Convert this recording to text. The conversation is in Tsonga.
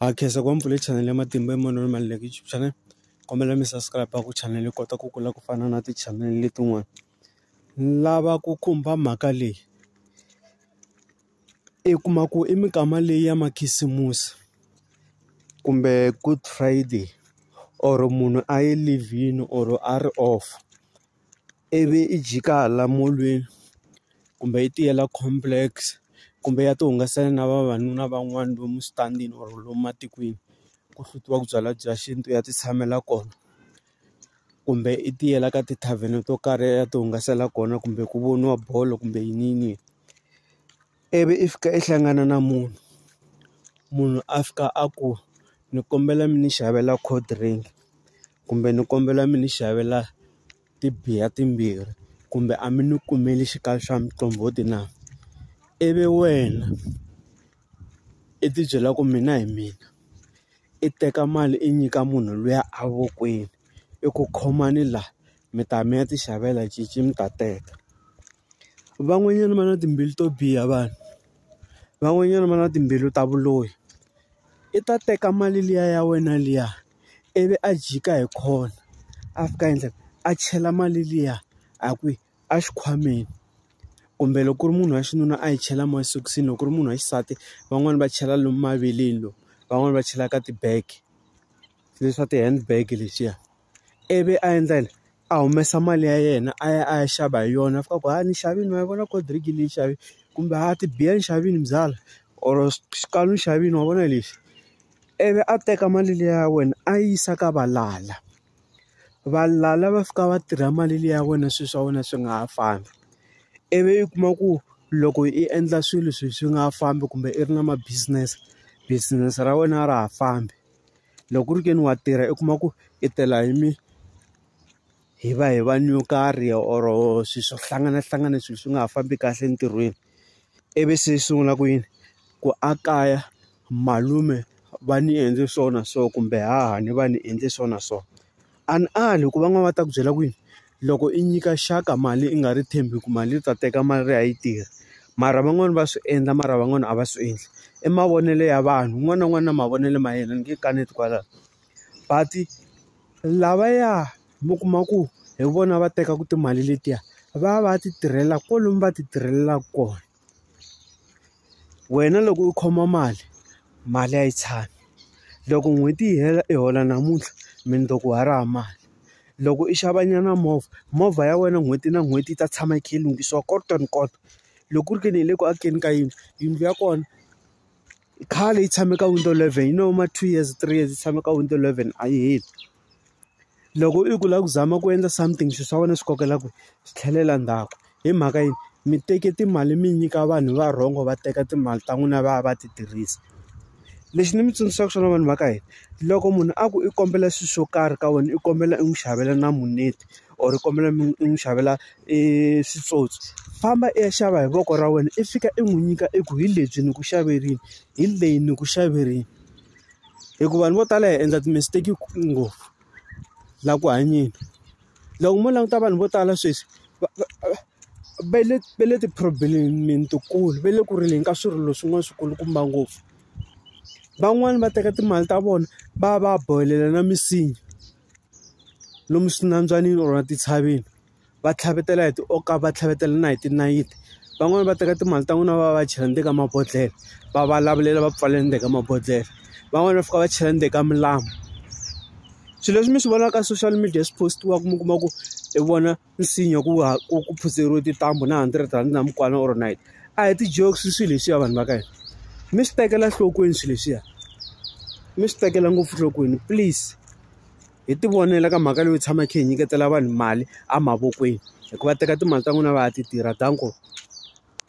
Ha khensa ku va mi pfule chanele ya matimba hi manoni ma like YouTube channel kombela mi subscribe ku chanele yi kota ku kula ku fana na ti-channel letin'wana lava ku khumba mhaka leyi i kuma ku i mikama leyi ya makhisimusi kumbe good friday or munhu a yi leave-ini or a ri off. ivi i jika hala molweni kumbe yi tiyela complex kumbe ya ti hungasela na vavanuna van'wana lomu switandini or lomu matikweni ku hlutiwa ku byala bya xintu ya ti tshamela kona kumbe i tiyela ka ti-tarven-e to karhi ya ti hungasela kona kumbe ku voniwa bolo kumbe yiniyini. ivi i fika i hlangana na munhu munhu a fika a ku ni kombela mi ni xavela cold drink kumbe ni kombela mi ni xavela ti-beer timbirhi kumbe a mi ni kumeli xikalo xa muqombhoti na ivi wena i ti byela ku mina hi mina i teka mali i nyika munhu luya a vokweni i ku khomani la mi ta mi ya ti xavela cinci mi ta teka. van'wanyana va na timbilu to biha vanhu van'wanyana va na timbilu ta vuloyi i ta teka mali liya ya wena liya ivi a jika hi khona a fika endla a chela mali liya a ku a xikhwameni kumbe loko ku ri munhu wa xinuna a yi chela masokisini loko ku ri munhu wa xisati van'wani va chela lomu maveleni lomu van'wani va chela ka ti-bag leswa ti-handbag leswiya. ivi a endla yini a humesa mali ya yena a ya a ya xava hi yona a fika a ku hayi ni xavile ma yi vona cold drink leyi ni yi xavile kumbe hayi tibiya ni xavile byalwa or xikalo ni xavile wa vona lexi ivi a teka mali liya ya wena a yi yisa ka valala valala va fika va tirha mali liya ya wena swilo swa wena swi nga ha fambi ivi u kuma ku loko i endla swilo swilo swi nga ha fambi kumbe i ri na ma business business ra wena a ra ha fambi. loko ku ri ke ni wa tirha i kuma ku i tela hi mi hi va hi vanhu yo karhi or swilo swo hlanganahlangana swilo swi nga ha fambi kahle entirhweni ivi se yi sungula ku yini ku a kaya malume va ni endle swona so kumbe haha ni va ni endle swona so. A ni ali hikuva van'wana va ta ku byela ku yini loko i nyika xaka mali i nga ri tshembi ku mali u ta teka mali liya a yi tirhi mara van'wani va swi endla mara van'wani a va swi endli i mavonelo ya vanhu un'wana na un'wana na mavonelo ma yena ni nge kaneti kwalaho but lavaya mi kuma ku hi vona va tekaka timali letiya va va ti tirhela kwalomu va ti tirhelaka kona. wena loko u khoma mali mali a yi tshami loko n'hweti yi hela i hola namuntlha mundzuku wa ha ri hava mali loko i xava nyana movha movha ya wena n'hweti na n'hweti yi ta tshama yi kha yi lunghisiwa kota ni kota loko ku ri ke ni hi le ku akeni ka yindlu yindlu ya kona khale yi tshame ka window eleven yi no yima two years three years yi tshame ka window eleven a yi heli. loko i ku lava ku zama ku endla something swilo swa wena swi kokela ku swi tlhelela ndzhaku hi mhaka yini mi teke timali mi nyika vanhu va wrong va teka timali ta n'wina va ya va ti tirhisa lexi ni mi tsundzuxaka swona vanhu va ka hina loko munhu a ku i kombela swilo swo karhi ka wena i kombela i n'wi xavela na muneti or i kombela mi i n'wi xavela i switsotso famba i ya xava hi voko ra wena i fika i n'wi nyika i ku hi lebyi ni ku xaverini hi leyi ni ku xaverini hikuva vanhu vo tala hi endla ti-mistake ngopfu la ku hanyeni loko mo languta vanhu vo tala sweswi va va le va le ti-problem-ini tikulu va le ku rileni ka swirilo swin'wana swi kulukumba ngopfu van'wani va teka timali ta vona va ya va ya bohelela na misinya lomu swinambyanini or tintshaveni va tlhavetela hi ti or ka va tlhavetela na hi tinayiti. Van'wani va teka timali ta n'wina va ya va ya chela ndzeni ka mabodhlele va va lavulela va pfalela ndzeni ka mabodhlele. Van'wani va fika va chela ndzeni ka milambu. Swilo leswi mi swi vonaka ka social media swi post-iwaka mi kuma ku hi vona nsinya ku ha ku ku phutseriwe tintambu na hundred rhandi na mukwana or nayiti a hi ti-jokes swilo leswiya vanhu va ka hina mi swi tekela enhlokweni swilo leswiya mi swi tekela ngopfu enhlokweni please. hi ti vonela ka mhaka leyo tshama hi kha hi nyiketela vanhu mali emavokweni hikuva teka timali ta n'wina va ya ti tirha danko.